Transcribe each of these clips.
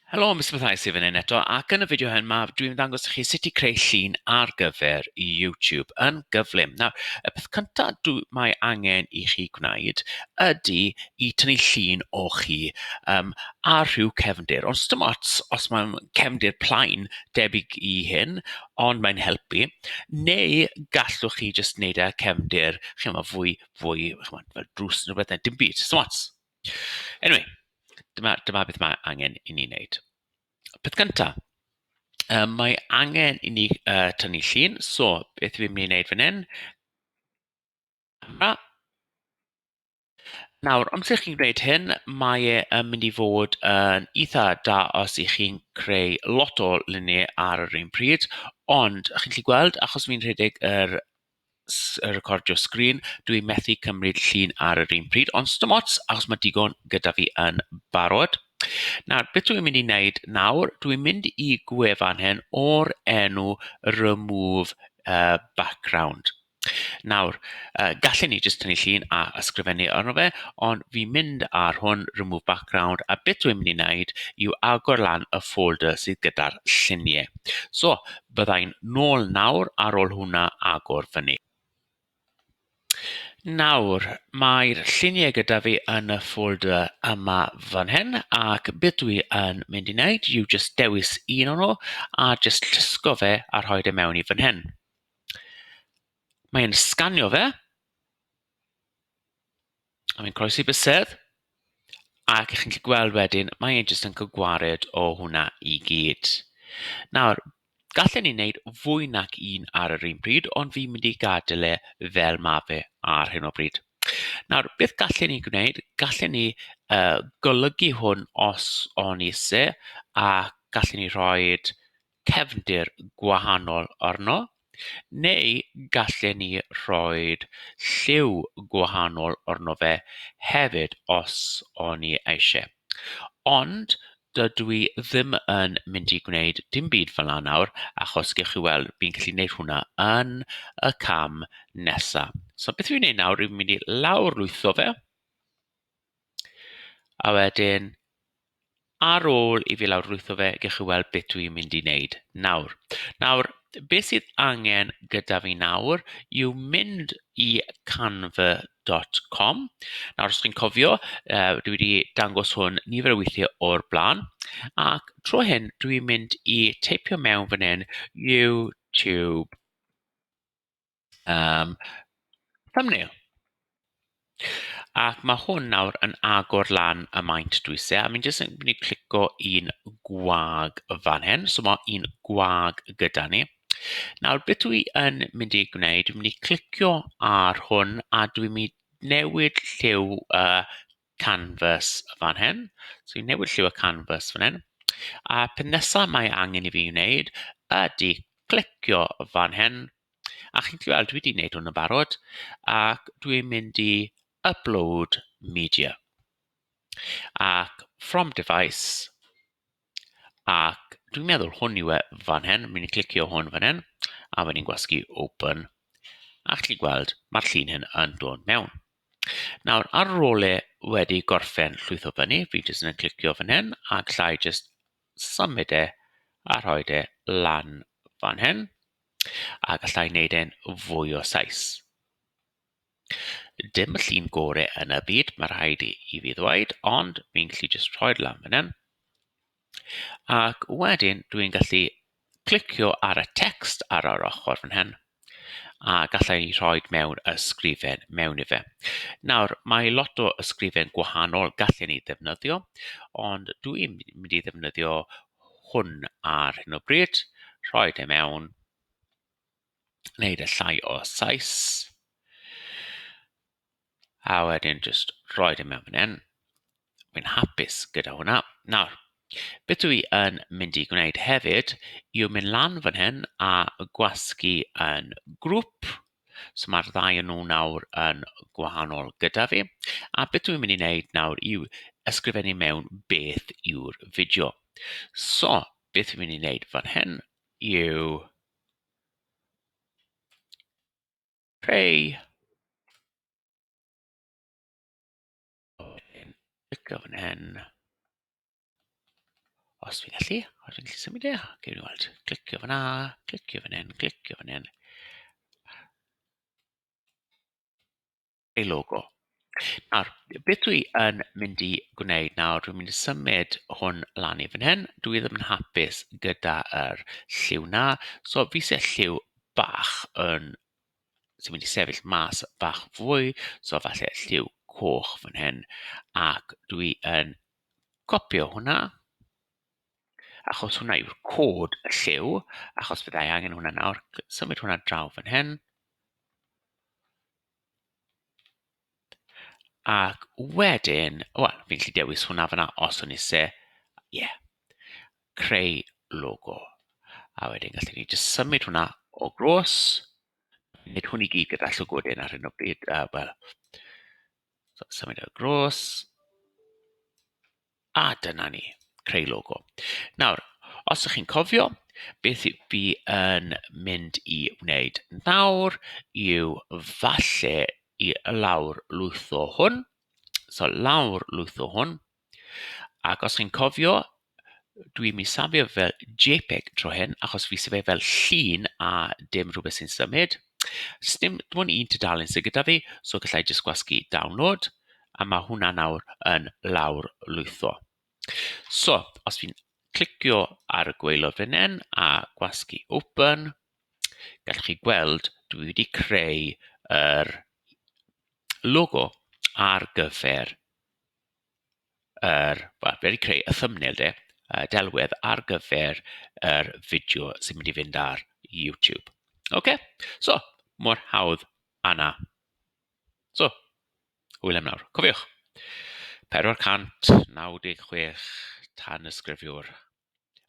Helo, Mister Matthias Ifan hyn eto ac yn y fideo hyn ma' dwi'n ddangos i chi sut i creu llun ar gyfer i YouTube yn gyflym. Nawr y peth cynta dw- mae angen i chi gwneud ydy i tynnu llun o chi yym ar rhyw cefndir ond sdim ots os mae'n cefndir plaen debyg i hyn ond mae'n helpu neu gallwch chi jyst wneud e ar cefndir chimod fwy fwy chimod fel drws neu rywbeth neu dim byd, sdim ots. Anyway, dyma, dyma beth mae angen i ni wneud. Peth cyntaf, um, mae angen i ni uh, tynnu llun. So, beth fi'n mynd i wneud fan hyn? Camera. Nawr, amser chi'n gwneud hyn, mae e yn mynd i fod yn eitha da os i chi'n creu lot o luniau ar yr un pryd, ond chi'n gallu gweld, achos fi'n rhedeg yr s- yy recordio sgrin, dw i'n methu cymryd llun ar yr un pryd, ond sdim ots achos mae digon gyda fi yn barod. Nawr, beth dw i'n mynd i wneud nawr, dw i'n mynd i gwefan hyn o'r enw remove yy background. Nawr, yy gallen ni jyst tynnu llun a ysgrifennu arno fe, ond fi'n mynd ar hwn, remove background, a beth dw i'n mynd i wneud yw agor lan y folder sydd gyda'r lluniau. So, Byddai'n nôl nawr ar ôl hwnna agor fyny. Nawr, mae'r lluniau gyda fi yn y folder yma fan hyn ac beth dwi yn mynd i wneud yw jyst dewis un o'n nhw a jyst llusgo fe a rhoi e mewn i fan hyn. Mae'n sganio fe. A mae'n croesi bysedd. Ac chi'n gallu gweld wedyn, mae e jyst yn cael gwared o hwnna i gyd. Nawr, gallen ni wneud fwy nac un ar yr un pryd, ond fi'n mynd i gadael e fel ma' fe ar hyn o bryd. Nawr, beth gallen ni gwneud? Gallen ni uh, golygu hwn os o'n ni isie, a gallen ni rhoi cefndir gwahanol arno, neu gallen ni roi lliw gwahanol arno fe hefyd os o'n ni eisiau. Ond dydw i ddim yn mynd i gwneud dim byd fel 'na nawr, achos gewch chi weld, fi'n gallu gwneud hwnna yn y cam nesaf. So beth fi'n mynd i wneud nawr yw mynd i lawrlwytho fe. A wedyn ar ôl i fi lawrlwytho fe, gewch chi weld beth dwi'n mynd i wneud nawr. Nawr, beth sydd angen gyda fi nawr yw mynd i canva.com. Nawr, os chi'n cofio, yy dwi wedi dangos hwn nifer o weithiau o'r blaen, ac tro hyn dwi'n mynd i teipio mewn fan hyn, YouTube. Um, thumbnail. Ac mae hwn nawr yn agor lan y maint dwi se, a mi'n jyst yn mynd i clico un gwag y fan hyn. So mae un gwag gyda ni. Nawr, beth dwi yn mynd i gwneud, dwi'n mynd i clicio ar hwn a dwi'n mynd i newid lliw uh, canvas fan hyn. So fi'n newid lliw y canvas fan hyn. A peth nesaf mae angen i fi wneud ydy clicio fan hyn. A chi'n gallu weld dwi wedi wneud hwn yn barod ac dwi'n mynd i upload media. Ac from device, Ac dwi'n meddwl hwn yw e fan hyn, fi'n mynd i clicio hwn fan hyn, a wedyn gwasgu open, a chi'n gweld mae'r llun hyn yn dod mewn. Nawr ar ôl e wedi gorffen llwytho fyny, fi jyst yn clicio fan hyn a galla i jyst symud e a rhoi e lan fan hyn, a galla i wneud e'n fwy o size. Dim y llun gore yn y byd ma rhaid i i fi ddweud ond fi'n gallu jyst rhoi'r lan fan hyn ac wedyn dwi'n gallu clicio ar y text ar yr ochr fan hyn a galla i rhoi mewn ysgrifen mewn i fe. Nawr mae lot o ysgrifen gwahanol gallen ni ddefnyddio ond dwi'n mynd i ddefnyddio hwn ar hyn o bryd, rhoi e mewn wneud e llai o size a wedyn jyst rhoi e mewn fan hyn. Wi'n hapus gyda hwnna. Nawr, beth dwi yn mynd i gwneud hefyd yw mynd lan fan hyn a gwasgu yn grŵp. So ma'r ddau o nhw nawr yn gwahanol gyda fi. A beth dwi'n mynd i wneud nawr yw ysgrifennu mewn beth yw'r fideo. So, beth fi'n mynd i wneud fan hyn yw Creu. Clicio fan hyn. Os fi'n gallu, os fi'n gallu symud e. Gewn ni weld. Clicio fan'na, clicio fan hyn, clicio fan hyn. ei logo. Nawr, beth dwi yn mynd i gwneud nawr, dwi'n mynd i symud hwn lan i fan hyn. Dwi ddim yn hapus gyda'r er lliw na. So fi eisiau lliw bach yn... sy'n mynd i sefyll mas bach fwy. So falle lliw coch fan hyn. Ac dwi yn copio hwnna. Achos hwnna yw'r cod y lliw. Achos byddai angen hwnna nawr. Symud hwnna draw fan hyn. Ac wedyn, wel, fi'n gallu dewis hwnna fanna os wn i isie, ie, creu logo. A wedyn gallen ni jyst symud hwnna o grôs, nid hwn i gyd gyda llygoden ar hyn o bryd, yy wel, so symud o grôs. A dyna ni, creu logo. Nawr, os ydych chi'n cofio, beth i- fi yn mynd i wneud nawr yw falle i lawr lwytho hwn. So lawr lwytho hwn. Ac os chi'n cofio, dwi'n mynd i safio fel jpeg tro hyn, achos fi isie fe fel llun a dim rhywbeth sy'n symud. Does dim... dim ond un tudalen sydd gyda fi, so galla i jyst gwasgu download, a ma' hwnna nawr yn lawrlwytho. So, os fi'n clicio ar y gwaelod fan hyn a gwasgu open, gallwch chi gweld dwi wedi creu yr logo ar gyfer yr wedi creu y thumbnail de y delwedd ar gyfer yr fideo sy'n mynd i fynd ar YouTube. OK? So, mor hawdd a na. So, hwyl am nawr. Cofiwch, 496 tan ysgrifiwr.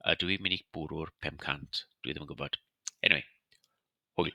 Ydw i'n mynd i bwrw'r 500? Dwi ddim yn gwybod. Anyway, hwyl.